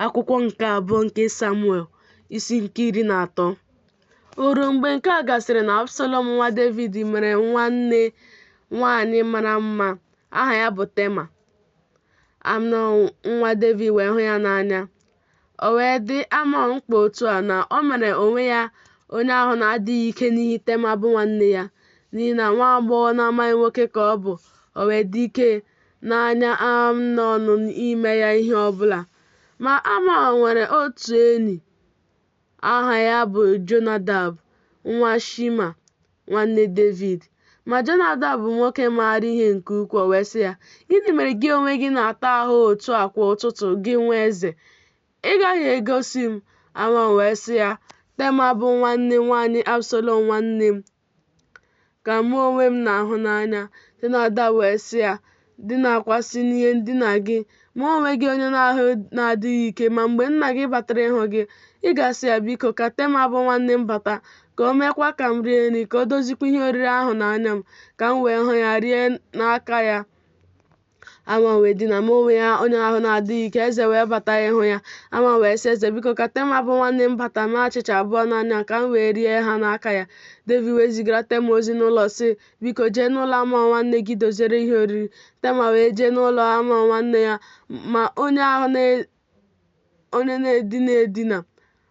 Akwụkwọ nke abụọ nke Samuel isi nke iri na atọ O ruo mgbe nke a gasịrị na Absalọm nwa Devid nwere nwanne nwaanyị mara mma aha ya bụ Tema. Amnọn nwa Devid wee hụ ya n'anya. O wee dị Amnọn mkpa otu a na o mere onwe ya onye ahụ na-adịghị ike n'ihi Tema bụ nwanne ya, n'ihi na nwa agbọghọ na-amaghị nwoke ka ọ bụ, o wee dị ike n'anya Amnọn ime ya ihe ọ bụla. Ma Amnọn nwere otu enyi aha ya bụ Jonadab nwa Shima, nwanne Devid. Ma Jonadab bụ nwoke maara ihe nke ukwuu, wee sị ya, Gịnị mere gị onwe gị na-ata ahụ otu a kwa ụtụtụ, gị nwa eze? Ị gaghị egosi m? Amnọn wee sị ya, Tema bụ nwanne nwaanyị Absalọm nwanne m, ka mụ onwe m na-ahụ n'anya. Jonadab wee sị ya, Dinakwasị n'ihe ndina gị, mee onwe gị onye ahụ na-adịghị ike, ma mgbe nna gị batara ịhụ gị, ị ga-asị ya, Biko, ka Tema bụ nwanne m bata, ka o meekwa ka m rie nri, ka o dozikwa ihe oriri ahụ n'anya m, ka m wee hụ ya rie n'aka ya. Amnọn wee dina mee onwe ya onye ahụ na-adịghị ike eze wee bata ịhụ ya Amnọn wee sị eze biko ka Tema bụ nwanne m bata mee achịcha abụọ n'anya ka m wee rie ha n'aka ya Devid wee zigara Tema ozi n'ụlọ sị biko jee n'ụlọ Amnọn nwanne gị doziere ihe oriri Tema wee jee n'ụlọ Amnọn nwanne ya ma onye ahụ onye na-edina edina.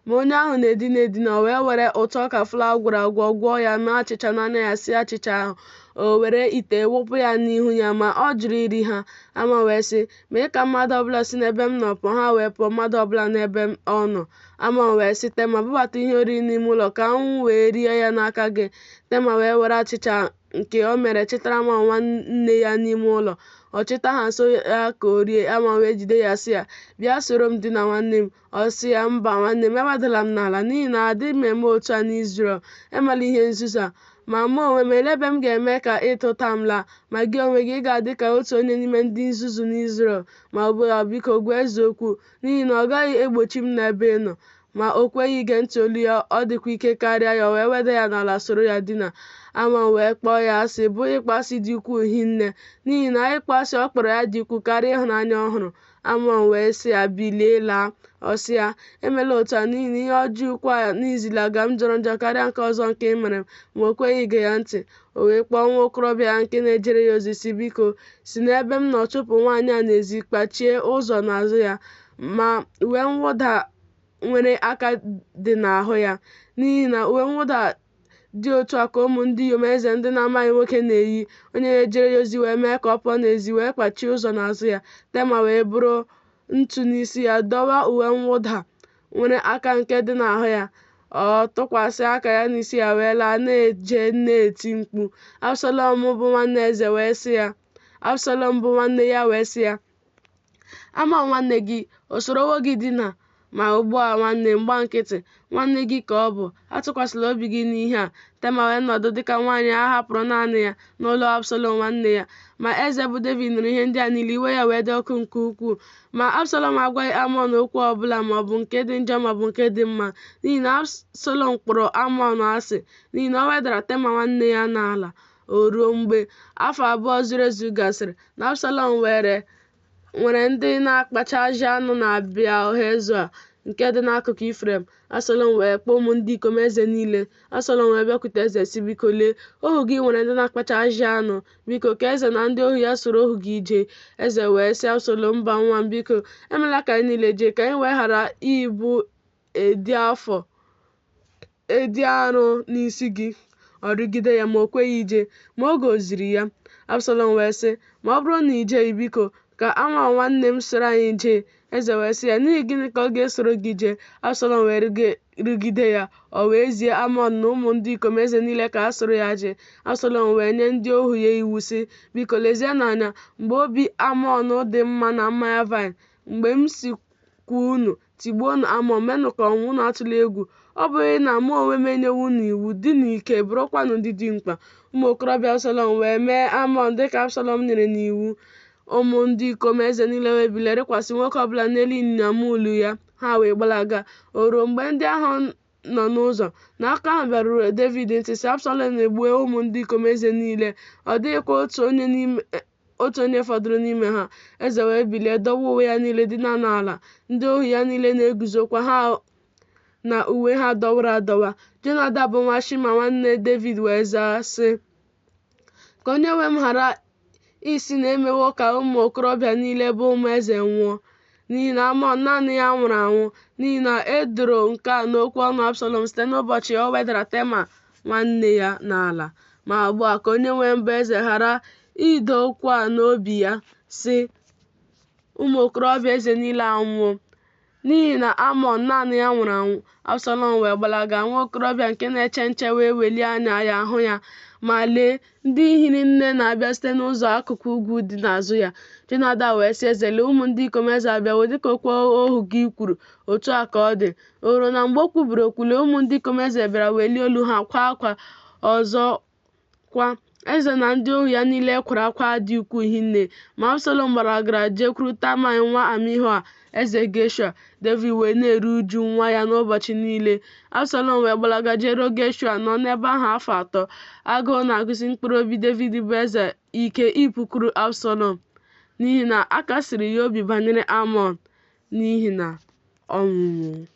Ma onye ahụ na-edina edina o wee were ụtụ ọka flawa gwọrọ agwọ gwọọ ya mee achịcha n'anya ya sie achịcha ahụ o were ite wụpụ ya n'ihu ya ma ọ jụrụ iri ha Amnọn wee sị mee ka mmadụ ọbụla si n'ebe m nọ pụọ ha wee pụọ mmadụ ọbụla n'ebe ọ nọ Amnọn wee sị Tema bubata ihe oriri n'ime ụlọ ka m wee rie ya n'aka gị Tema wee were achịcha nke o mere chịtara Amnọn nwanne ya n'ime ụlọ. Ọ chịta ha nso ya ka o rie, Amnọn wee jide ya sị ya, Bịa soro m dina nwanne m. Ọ sị ya, Mba nwanne m, ewedala m n'ala, n'ihi na adịghị eme otu a n'Izrel. Emela ihe nzuzu a. Ma mụ onwe m, elee ebe m ga-eme ka ịta ụta m laa? Ma gị onwe gị, ị ga-adị ka otu onye n'ime ndị nzuzu n'Izrel. Ma ugbu a, biko, gwa eze okwu, n'ihi na ọ gaghị egbochi m n'ebe ị nọ. Ma o kweghị ige ntị olu ya, ọ dịkwa ike karịa ya, o wee weda ya n'ala soro ya dina. Amnọn wee kpọọ ya asị, bụ ịkpọasị dị ukwuu hinne, n'ihi na ịkpọasị ọ kpọrọ ya dị ukwuu karịa ịhụnanya ọ hụrụ. Amnọn wee sị ya, Bilie laa. Ọ sị ya, Emela otu a, n'ihi na ihe ọjọọ ukwu a n'izilaga m jọrọ njọ karịa nke ọzọ nke ị mere m. Ma o kweghị ige ya ntị. O wee kpọọ nwa okorobịa ya nke na-ejere ya ozi sị, Biko, si n'ebe m nọ chụpụ nwaanyị a n'ezi, kpachie ụzọ n'azụ ya. ma uwe mwụda nwere aka dị n'ahụ ya n'ihi na uwe mwụda dị otu a ka ụmụ ndị inyom eze ndị na-amaghị nwoke na-eyi onye na-ejere ya ozi wee mee ka ọ pụọ n'ezi wee kpachie ụzọ n'azụ ya tema wee buru ntụ n'isi ya dọwa uwe mwụda nwere aka nke dị n'ahụ ya ọ tụkwasị aka ya n'isi ya wee laa na-eje na-eti mkpu absalọm bụ nwanne eze wee sị ya absalọm bụ nwanne ya wee sị ya amọn nwanne gị o sorowo gị dina ma ugbu a nwanne m gba nkịtị nwanne gị ka ọ bụ atụkwasịla obi gị n'ihe a tema wee nọdụ dịka nwaanyị a hapụrụ naanị ya n'ụlọ absalom nwanne ya ma eze bụ david nụrụ ihe ndị a niile iwe ya wee dị ọkụ nke ukwuu ma absalom agwaghị amọn okwu ọbụla ma ọ bụ nke dị njọ ma ọ bụ nke dị mma n'ihi na absalom kpọrọ amọn asị n'ihi na o wedara tema nwanne ya n'ala O ruo mgbe afọ abụọ zuru ezu gasịrị, na Absalọm nwere ndị na-akpacha ajị anụ na Beal-hezọa nke dị n'akụkụ Ifrem. Absalọm wee kpọọ ụmụ ndị ikom eze niile. Absalọm wee bịakwute eze sị Biko lee, ohu gị nwere ndị na-akpacha ajị anụ. Biko ka eze na ndị ohu ya soro ohu gị jee. Eze wee sị Absalọm, Mba nwa m, biko, emela ka anyị niile jee, ka anyị wee ghara ịbụ ịdị afọ ịdị arụ n'isi gị ọ rịgide ya ma o kweghị ije ma ọ gọziri ya absalọm wee sị ma ọ bụrụ na i jeghị biko ka amọn nwanne m soro anyị jee eze wee sị ya n'ihi gịnị ka ọ ga-esoro gị jee absalọm wee rịgide ya o wee zie amọn na ụmụ ndị ikom eze niile ka ha soro ya jee absalọm wee nye ndị ohu ya iwu sị biko lezienụ anya mgbe obi amọn dị mma na mmanya vine mgbe m sịkwa unu Tigbuonụ Amọn, meenụ ka ọ nwụọ, unu atụla egwu. Ọ bụghị na mụ onwe m enyewo unu iwu? Dịnụ ike, bụrụkwanụ ndị dimkpa. Ụmụ okorobịa Absalọm wee mee Amọn dị ka Absalọm nyere n'iwu. Ụmụ ndị ikom eze niile wee bilie rịkwasị nwoke ọ bụla n'elu ịnyịnya muulu ya, ha wee gbalaga. O ruo mgbe ndị ahụ nọ n'ụzọ na akụkọ ahụ bịaruru Devid ntị, sị, Absalọm egbuo ụmụ ndị ikom eze niile, ọ dịghịkwa otu onye n'ime otu onye fọdụrụ n'ime ha eze wee bilie dọwa uwe ya niile dina n'ala ndị ohu ya niile na-eguzokwa ha na uwe ha dọwara adọwa jonadab nwa shima nwanne david wee zaa sị ka onye nwe m ghara ịsị na e mewo ka ụmụ okorobịa niile bụ ụmụ eze nwụọ n'ihi na amọn naanị ya nwụrụ anwụ n'ihi na e doro nke a n'okwu ọnụ absalọm site n'ụbọchị o wedara tema nwanne ya n'ala ma ugbu a ka onyenwe m bụ eze ghara ido okwu a n'obi ya, sị, Ụmụ okorobịa eze niile anwụwo. N'ihi na Amnọn naanị ya nwụrụ anwụ, Absalọm wee gbalaga, nwa okorobịa nke na-eche nche wee welie anya ya hụ ya, ma lee, ndị hiri nne na-abịa site n'ụzọ akụkụ ugwu dị n'azụ ya. Jonadab wee sị eze, Lee, ụmụ ndị ikom eze abịawo, dịka okwu ohu gị kwuru, otu a ka ọ dị. O ruo na mgbe o kwubiri okwu, lee ụmụ ndị ikom eze bịara welie olu ha kwaa akwa. Ọzọkwa, eze na ndị ohu ya niile kwara akwa dị ukwuu hinne. Ma Absalọm gbalagara jekwuru Talmai nwa Amihua, eze Geshua. Devid wee na-eru uju nwa ya n'ụbọchị niile. Absalọm wee gbalaga jeruo Geshua, nọ n'ebe ahụ afọ atọ. Agụụ na-agụsi mkpụrụ obi Devid bụ eze ike ịpụkwuru Absalọm n'ihi na a kasiri ya obi banyere Amnọn n'ihi na ọ nwụwo.